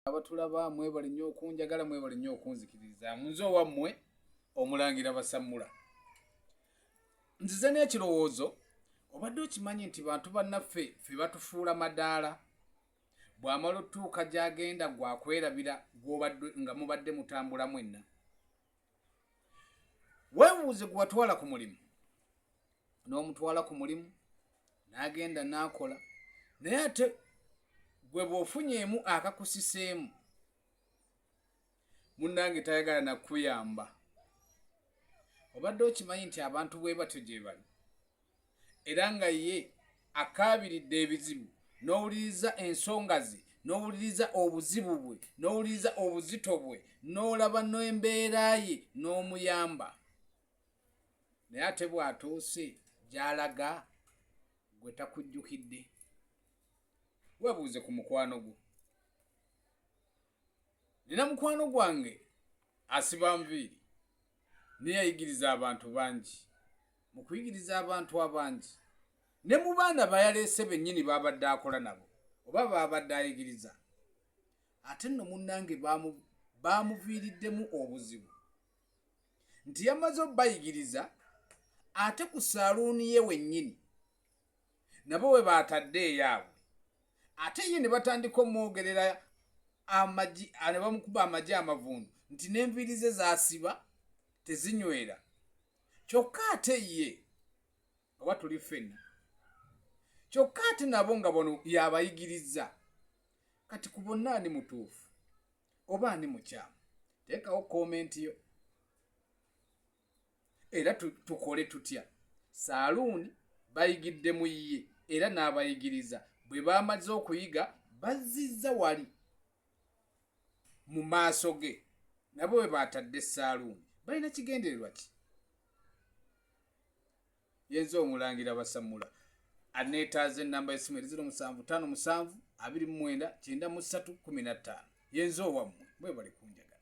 abatulaba mwebale nnyo okunjagala mwebale nnyo okunzikiririza munze owammwe omulangira basammula nzize n'ekirowoozo obadde okimanyi nti bantu bannaffe fe batufuula madaala bw'amala otuuka gy'agenda gwakwerabira gwobadde nga mubadde mutambula mwenna weebuuze gwewatwala ku mulimu n'omutwala ku mulimu n'agenda n'akola naye ate gwe bw'ofunyeemu akakusiseemu munnange tayagala nakuyamba obadde okimanyi nti abantu bwe batyo gye bali era nga ye akaabiridde ebizibu n'owuliriza ensonga ze n'owuliriza obuzibu bwe n'owuliriza obuzito bwe n'olaba n'embeera ye n'omuyamba naye ate bw'atuuse gy'alaga gwe takujjukidde webuuze ku mukwano gwo nina mukwano gwange asiba nviiri naye ayigiriza abantu bangi mu kuyigiriza abantu abangi ne mu baana bayaleese bennyini baabadde akola nabo oba baabadde ayigiriza ate nno munnange baamuviiriddemu obuzibu nti yamaze obayigiriza ate ku saluuni ye wennyini nabo we baatadde eyaabwe ate ye ne batandika omwogerera amagi ne bamukuba amagi amavundu nti n'enviiri ze zaasiba tezinywera kyokka ate ye oba tuli ffenna kyokka ate nabo nga bono yabayigirizza kati ku bonna ani mutuufu oba ani mukyamu teekawo komenti yo era tukole tutya saaluuni bayigidde mu ye era n'abayigiriza bwe baamaze okuyiga bazzizza wali mu maaso ge nabo bwe baatadde saaluuni balina kigendererwa ki yenze omulangira basamula aneetaaza ennamba y'essimu eri ziro musanvu ttaano musanvu abiri mu mwenda kyenda mu ssatu kkumi na ttaano yenze owammwe mwebale kunjagala